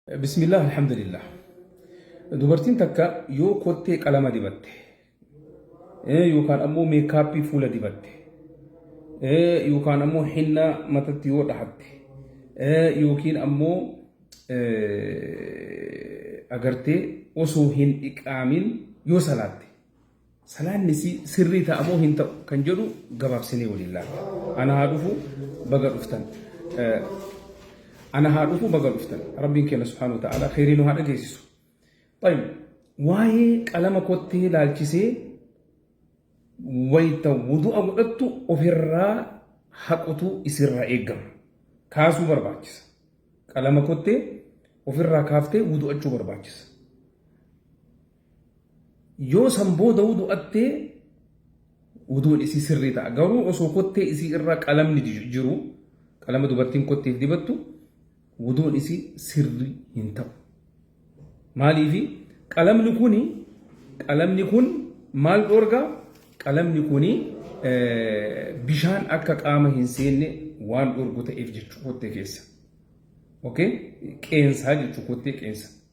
Bismillah alhamdulillah. Dubartiin takka yoo kottee qalama dibatte eh, yookaan ammoo meekaappii fuula dibatte eh, yookaan ammoo hinna matatti yoo dhahatte eh, yookiin ammoo eh, agartee osoo hin dhiqaamin yoo salaatte Salaanni isii sirrii ta'a moo hin ta'u kan jedhu gabaabsinee waliin laalla. Ana haa dhufu baga dhuftan. Ana haa dhufu baga dhuftan. Rabbiin keenya subhaanahu wa ta'ala kheyrii nu haa dhageessisu. Tayyib waa'ee qalama kottee laalchisee wayta wudu'a godhattu ofirraa haqutu isirraa eegama. Kaasuu barbaachisa. Qalama kottee ofirraa kaaftee wudu'achuu barbaachisa. Yoo san booda wudu'atte wuduun isii sirrii ta'a. Garuu osoo kottee isii irra qalamni jiru, qalama dubartiin kotteef dibattu, wuduun isii sirrii hin ta'u. Maaliifi qalamni kuni qalamni kun maal dhoorga? Qalamni kuni bishaan akka qaama hin seenne waan dhoorgu ta'eef jechuu kottee keessa. Okay? Qeensaa jechuu kottee qeensa.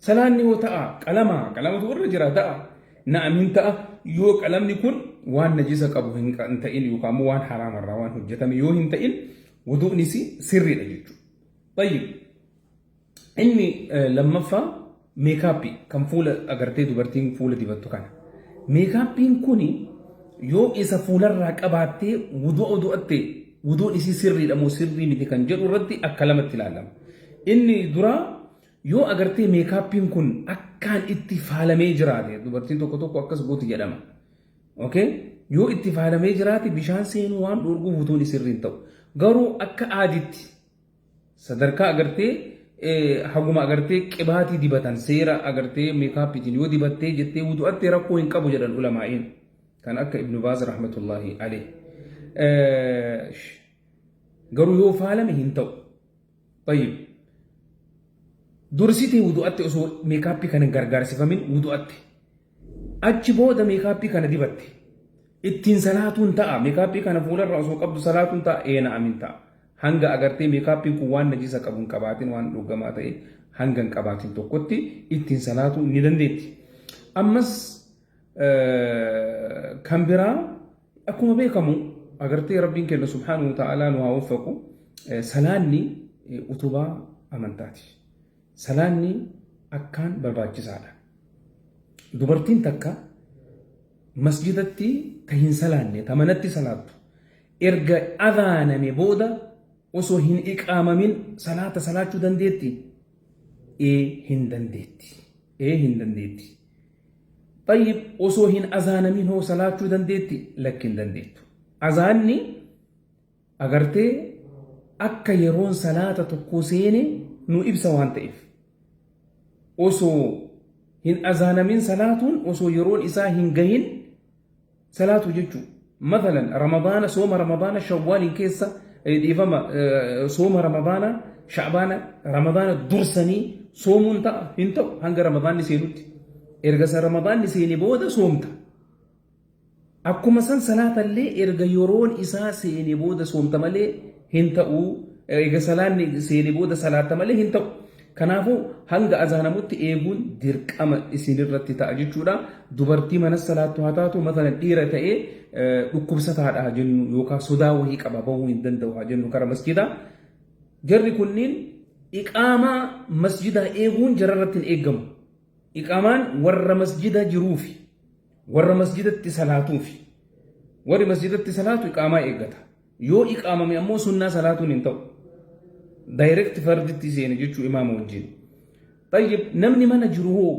Salaanni hoo ta'a qalama qalamatu irra jira ta'a na'am hin ta'a yoo qalamni kun waan najisa qabu hin ta'in yookaan immoo waan haraama irraa waan hojjetame yoo hin ta'in wuduunis sirriidha jechuudha. Tayyib inni lammaffaa meekaappii kan fuula agartee dubartiin fuula dibattu kana. Meekaappiin kuni yoo isa fuularraa qabaattee wuduu odu'atte wuduun isii sirriidha moo sirrii miti kan jedhu irratti akka lamatti ilaalama. Inni duraa Yoo agartee meekaappiin kun akkaan itti faalamee jiraate dubartiin tokko tokko akkas gooti jedhama. Okay? Yoo itti faalamee jiraate bishaan seenuu waan dhoorguuf utuun isirri hin ta'u. Garuu akka aaditti sadarkaa agartee eh, haguma agartee qibaatii dibatan seera agartee meekaappiitiin yoo dibattee jettee wudu'attee rakkoo hin qabu jedhan ulamaa'iin. Kan akka Ibnu Baaz rahmatullahi alayh. Eh, sh- Garuu yoo faalame hin ta'u. طيب dursitii wudu'atti osoo meekaappii kana hin gargaarsifamin wudu'atti achi booda meekaappii kana dibatte ittiin salaatuun ta'a meekaappii kana fuularra osoo qabdu salaatuun ta'a eena amin ta'a hanga agartee meekaappiin kun waan najisa qabu hin qabaatin waan dhugamaa ta'e hanga hin qabaatin tokkotti ittiin salaatuu ni dandeetti ammas kan biraa Akkuma beekamu agartee Rabbiin kenna subhaanahu ta'aalaa nu haa waffaqu salaanni utubaa amantaati. Salaanni akkaan barbaachisaadha. Dubartiin takka masjidatti ta hin salaanne ta manatti salaattu erga adhaaname booda osoo hin iqaamamin salaata salaachuu dandeetti? Ee hin dandeetti. Ee hin dandeetti. Xayyib osoo hin azaanamin hoo salaachuu dandeetti? Lakki hin dandeettu. Azaanni agartee akka yeroon salaata tokkoo seene nu ibsa waan ta'eef. Osoo hin azaanamin salaatuun osoo yeroon isaa hin gahin Salaatuu jechuu mathalan ramadaana sooma ramadaana shawwaaliin keessa dhiifama sooma ramadaana sha'baana ramadaana dursanii soomuun ta'a hin ta'u hanga ramadaanni seenutti erga san ramadaanni seene booda soomta akkuma san salaatallee erga yeroon isaa seene booda soomta malee hin ta'u eega salaanni seene booda salaatta malee hin ta'u. Kanaafuu hanga azaanamutti eeguun dirqama isinirratti ta'a jechuudha. Dubartii mana salaattu haa taatu matala dhiira ta'ee dhukkubsataadha haa jennu yookaan sodaa wahii qaba bahuu hin danda'u haa jennu kara masjidaa. Jarri kunniin iqaamaa masjidaa eeguun jararratti hin eegamu. Iqaamaan warra masjida jiruufi warra masjidatti salaatuufi warri masjidatti salaatu iqaamaa eeggata. Yoo iqaamame ammoo sunnaa salaatuun hin ta'u. Direct farditti seene jechuu imaama wajjin. Xayyib namni mana jiru hoo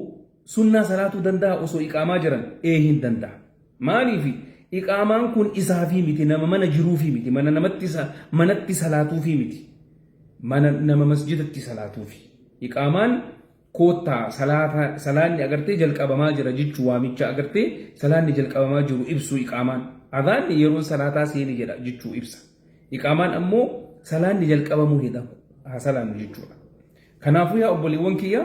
sunnaa salaatuu danda'a osoo iqaamaa jiran? Ee hin danda'a. Maaliifi? Iqaamaan kun isaafii miti nama mana jiruufii miti mana namatti sa- manatti salaatuufii miti. Mana nama masjidatti salaatuufi. Iqaamaan Koottaa salaata salaanni agartee jalqabamaa jira jechu waamicha agartee salaanni jalqabamaa jiru ibsu iqaamaan. Adhaanni yeroon salaataa seene jedha jechu ibsa. Iqaamaan ammoo salaanni jalqabamuu hidha haa salaannu jechuudha. Kanaafuu yaa obboleewwan kiyya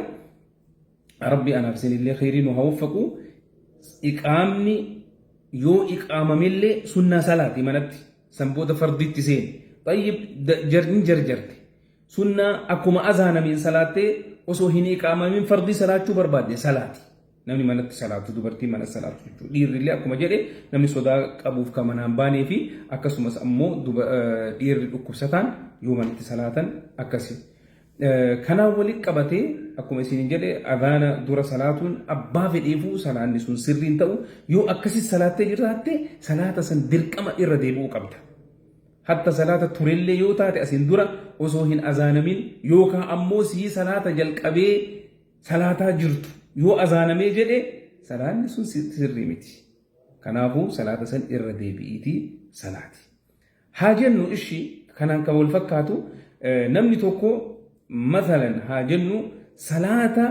rabbi anaaf isinillee kheyrii nu haa waffaqu iqaamni yoo iqaamamillee sunnaa salaati manatti san booda farditti seene. Xayyib hin jarjarte Sunnaa, Akkuma azaanameen salaattee osoo hin iqaamamin fardii salaachuu barbaadde salaati. Namni manatti salaatu, dubartiin manatti salaatu jechuudha. Dhiirrillee akkuma jedhe namni sodaa qabuuf ka manaan baanee fi akkasumas ammoo dhiirri dhukkubsataan yoo manatti salaatan akkasi. Kanaan walitti qabatee akkuma isin jedhe azaana dura salaatuun abbaa fedheefuu salaanni sun sirriin ta'u yoo akkasi salaattee jiraatte salaata san dirqama irra deebi'uu qabda. Hatta salaata turellee yoo taate asiin dura osoo hin azaanamin yookaa ammoo sii salaata jalqabee salaataa jirtu yoo azaanamee jedhe salaanni sun sirrii miti. Kanaafuu salaata san irra deebi'iitii salaati. Haa jennu ishi kanaan kan wal fakkaatu namni tokko masalan haa jennu salaata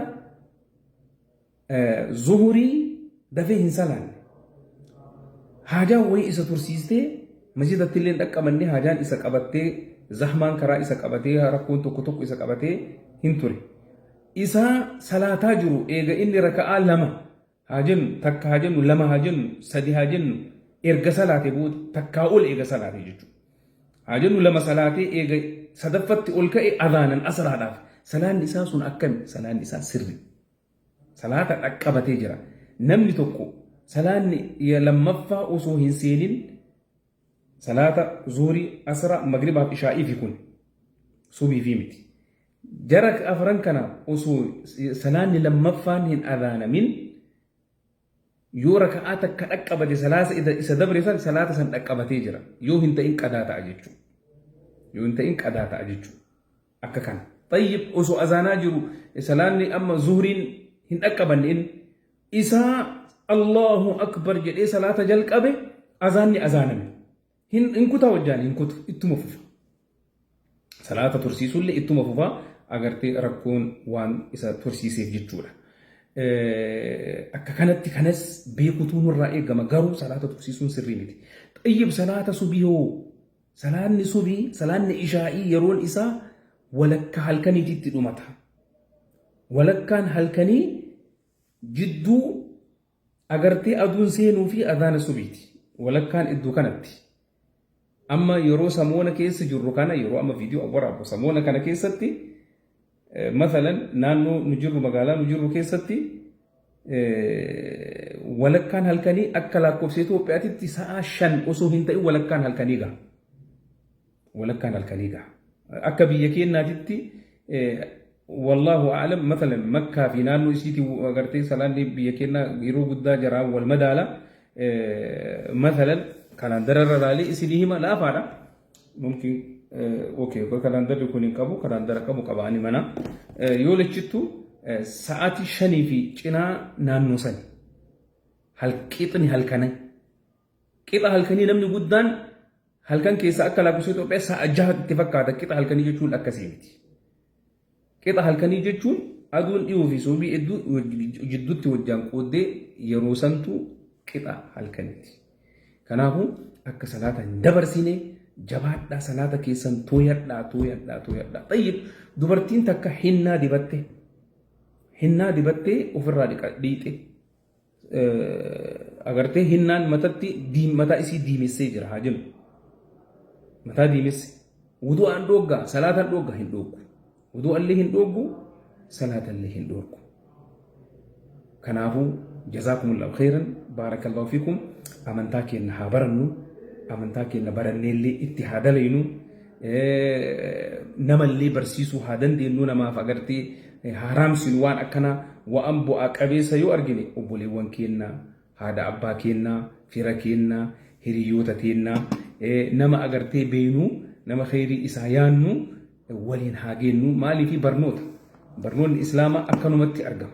Zuhurii dafee hin salaanne. Haajaan wayii isa tursiistee masjidatti illee hin dhaqqabanne haajaan isa qabattee zahmaan karaa isa qabatee rakkoon tokko tokko isa qabatee hin ture. Isa salaataa jiru eega inni raka'aa lama haa jennu takka haa jennu lama haa jennu sadi haa jennu erga salaate booda takkaa ol eega salaate jechuudha. Haa jennu lama salaatee eega sadaffatti ol ka'e adaanan asraadhaaf salaanni isaa sun akkami salaanni isaa sirri. Salaata dhaqqabatee jira. Namni tokko salaanni ya lammaffaa osoo hin seenin salaata zuurii, asra, magribaa fi ishaa'ii fi kun subii fi miti. Jara afran kana osoo salaanni lammaffaan hin adhaanamin Yoo raka'aa takka dhaqqabate salaasa ida isa dabre san salaata san dhaqqabatee jira. Yoo hin ta'in qadaa ta'a jechuu. Yoo hin ta'in qadaa ta'a jechuu. Akka kana. Tayyib osoo azaanaa jiru salaanni amma zuhriin hin dhaqqabanne inni. Isaa Allahu akbar jedhee salaata jalqabe azaanni azaaname. Hin, hin kutaa wajjaan hin kutu ittuma fufa. salaata tursiisuullee ittuma fufa agartee rakkoon waan isa tursiiseef jechuudha. Akka kanatti kanas beekutuu nurraa eegama garuu salaata tursiisuun sirrii miti. Xayyib salaata subii hoo salaanni subii salaanni ishaa'ii yeroon isaa walakkaa halkaniitti itti dhumata. Walakkaan halkanii jidduu Agartee aduun seenuu fi adhaana subiiti walakkaan iddoo kanatti amma yeroo samoona keessa jirru kana yeroo amma viidiyoo waraabbu samoona kana keessatti masalan naannoo nu jirru magaalaa nu jirru keessatti walakkaan halkanii akka lakkoofsa Itoophiyaatitti sa'a shan osoo hin ta'in walakkaan halkanii gaha. walakkaan halkanii gaha. Akka biyya keenyaatitti wallaahu a'lam matalan makkaa fi naannoo isiitii agartee salaanni biyya keenyaa yeroo guddaa jaraan wal madaala matalan kalaandara irra laalee isinii hima laafaadha mumkin okay kalaandarri kun hin qabu kalaandara qabu qaba ani mana yoo lachittu sa'aatii shanii fi cinaa naannoo sani halqixni halkanai Qixa halkanii namni guddaan halkan keessaa akka lakkoofsa Itoophiyaa sa'a jaha itti fakkaata qixa halkanii jechuun akkasii miti. Qixa halkanii jechuun aduun dhiyoo fi soobii hedduu jidduutti wajjaan qooddee yeroo santu qixa halkaniiti. Kanaafuu akka salaata hin dabarsine jabaadhaa salaata keessan tooyadhaa tooyadhaa tooyadhaa. Xayyib dubartiin takka hinnaa dibatte hinnaa dibattee ofirraa dhiixe. agartee hinnaan matatti diim- mataa isii diimessee jira haa jennu mataa diimesse wudu'aan dhoogga salaataan dhoogga hin dhooggu wudu'allee hin dhooggu salaatallee hin dhooggu kanaafuu jazaakumullahu khairan baarakallahu fiikum amantaa keenna haa barannu amantaa keenna baranneellee itti haa dalaynu namallee barsiisuu haa dandeenyu namaaf agartee haaraamsin waan akkanaa waan bu'aa qabeessa yoo argine obboleewwan keennaa haadha abbaa keennaa fira keennaa hiriyoota teennaa nama agartee beeknu nama kheyrii isaa yaannu waliin haa geennu maaliif barnoota barnoonni islaamaa akkanumatti argama.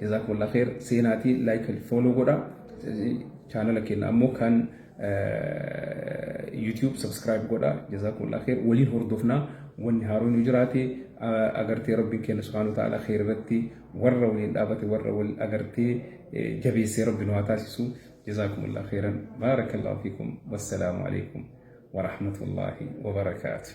Jazakumullah khair seenaatii like and follow godha chaanala keenya ammoo kan YouTube subscribe godha jazakumullah khair waliin hordofnaa wanni haaroon yoo jiraate agartee rabbiin keenya subhaanahu wa ta'ala khair irratti warra waliin dhaabate warra wal agartee jabeessee rabbi nu haa taasisu jazakumullah khairan baarakallahu fiikum wassalaamu alaikum wa rahmatullahi wa barakaatuh